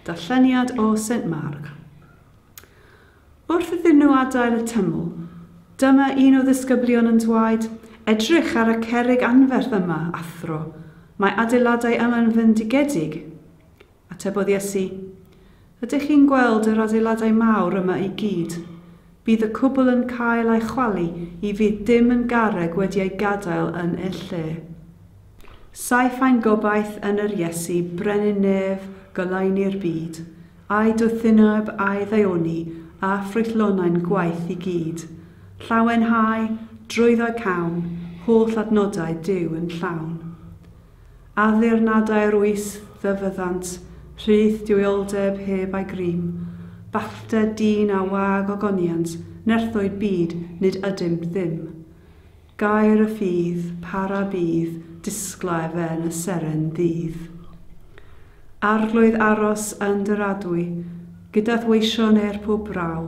Darlleniad o Saint Marc. Wrth iddyn nhw adael y tymwl, dyma un o ddisgyblion yn dwaed, Edrych ar y cerrig anferth yma, athro, mae adeiladau yma'n fyndigedig. Atebodd Iesu, Ydych chi'n gweld yr adeiladau mawr yma i gyd? Bydd y cwbl yn cael ei chwalu i fydd dim yn garreg wedi ei gadael yn ei lle. Saif ein gobaith yn yr Iesu brenin nef goleuni'r byd, a'i dwthineb a'i ddaioni a ffrwythlonau'n gwaith i gyd, llawenhau, drwyddo cawn, holl adnodau Duw yn llawn. Addurnadau'r oes fe fyddant, rhydd duwioldeb heb ai grym, bachder dyn a wag ogoniant, nerthoed byd, nid ydym ddim. Gair y ffydd, para bydd, disglair fe'n y seren ddydd. Arglwydd aros yn dy radwy, gyda th'weisio neu'r pwb braw,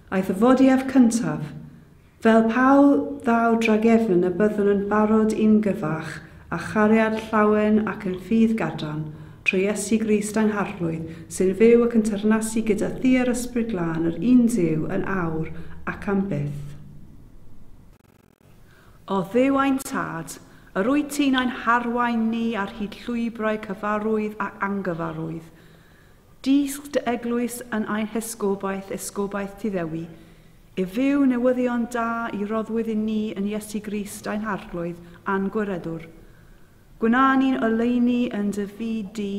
Ei thyfodi ef cyntaf, fel pew ddaw dragefn y byddwn yn barod i'n gyfach â chariad llawen ac yn ffydd gadarn, trwy Iesu Grist angharflwydd, sy'n fyw ac yn teyrnasu gyda Thi a'r Ysbryd Glân yr un Duw yn awr ac am byth. O Dduw ein Tad, yr wyt ti'n ein harwain ni ar hyd llwybrau cyfarwydd ac angyfarwydd. Dysg dy eglwys yn ein hesgobaeth, esgobaeth ti ddewi, i fyw newyddion da i roddwyd i ni yn Iesu Grist ein Harglwydd a'n Gwiredwr. Gwna ni'n oleuni yn dy fyd di,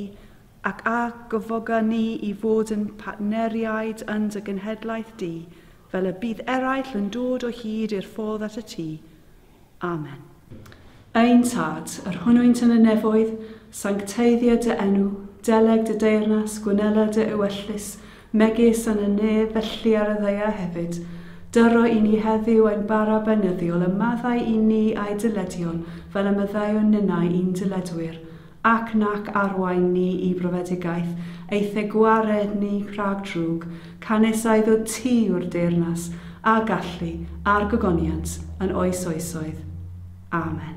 ac a gyfoga ni i fod yn partneriaid yn dy genhedlaeth di, Fel y bydd eraill yn dod o hyd i'r ffordd at y tŷ. Amen. Ein Tad, yr hwnnwynt yn y nefoedd, sancteiddia dy enw, deleg dy deyrnas, gwnela dy ewyllys, megis yn y nef, felly ar y ddaear hefyd. Dyro i ni heddiw ein bara benyddiol, a maddau i ni a'i dyledion, fel y maddeuwn ninnau i'n dyledwyr. Ac nac arwain ni i brofedigaeth, eithe gwared ni rhag drwg, canys a iddo ti yw'r deyrnas, a gallu, a'r gogoniant, yn oes oesoedd. Amen.